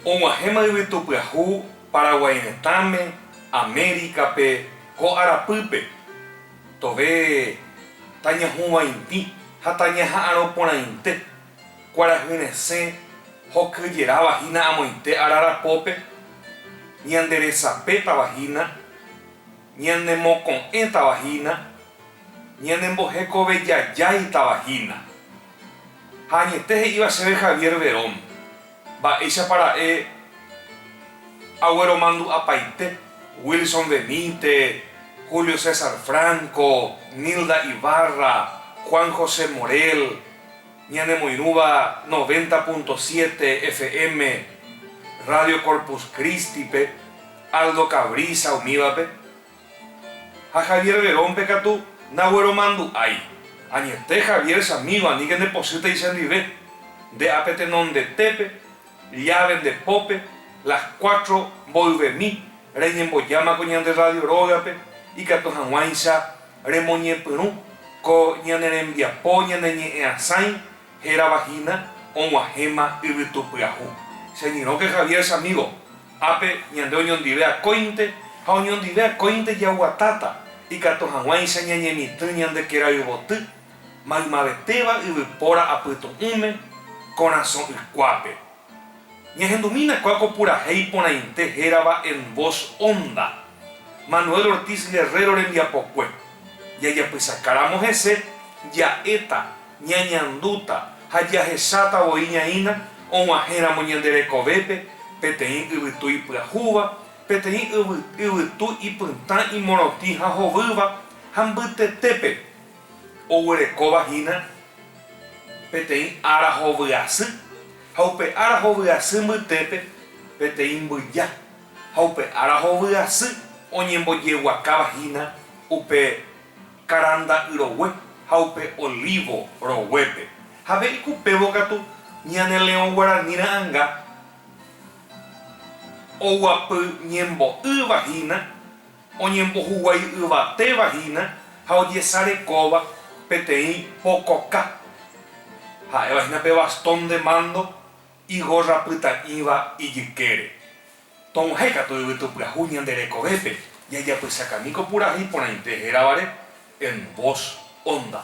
Og̃uahẽma yvytupyahu Paraguái retãme, Amérikape, ko arapýpe, tove tañahũvaintĩ ha tañaha'arõ porãinte, kuarahy resẽ hokyjeráva hína amoite arara pópe, ñanderesapétava hína, ñanemoko'ẽtava hína, Ñanembohekovejajáitava hína. Ha añete he'íva chéve Javier Verón, mba'éichapa ra'e agueromandu'apaite Wilson Benítez, Julio César Franco, Nilda Ibarra, Juan José Morel, ñanemoirũva noventa punto siete FM Radio Corpus Christi-pe, Aldo Cabrisa umívape, Ha Javier Verón-pe katu nagueromandu'ái. Añete Javier chamigo aníke ndepochýtei chendive. Nde apetenondetépe, llave nde pópe, las cuatro mboyvemi reñembojámako ñande radio rógape ikatu hag̃uáicha remoñepyrũ ko ñane rembiapo ñaneñe'ẽasãi Hérava hína og̃uahẽma yvytu pyahu. Cheñyrõke Javier chamígo, ápe ñande oñondive akóinte ha oñondive akóinte jaguatáta ikatu hag̃uáicha ñañemitỹ ñande kéra yvoty, maymavetéva yvypóra apytu'ũme, korasõ'ykuápe. Ñahendumína kua ko purahéi iporãite hérava En Voz Honda, Manuel Ortiz Guerrero rembiapokue. Jajapysakáramo hese, ja'éta, ñañandúta ha jahecháta voi ñaína og̃uahẽramo ñande rekovépe peteĩ yvytu ipyahúva, peteĩ yvytu ipytã imorotĩ ha hovýva ha mbytetépe. Oguerekóva hína peteĩ ára hovyasy, ha upe ára hovyasy mbytépe peteĩ mbyja, ha upe ára hovyasy oñembojeguakáva hína upe karanda'y rogue ha upe olívo roguépe. Jave ikupévo katu ñane Leõ Guarani ra'anga oguapy ñembo'ýva hína. oñembohuguái yvatéva hína ha ojesarekóva peteĩ pokoka, ha'éva hína pe bastón de mándo igórra pyta'ỹva ijykére. Tog̃uahẽ katu yvytu pyahu ñande rekovépe jajapysakami ko purahéi iporãite hérava-re en voz honda.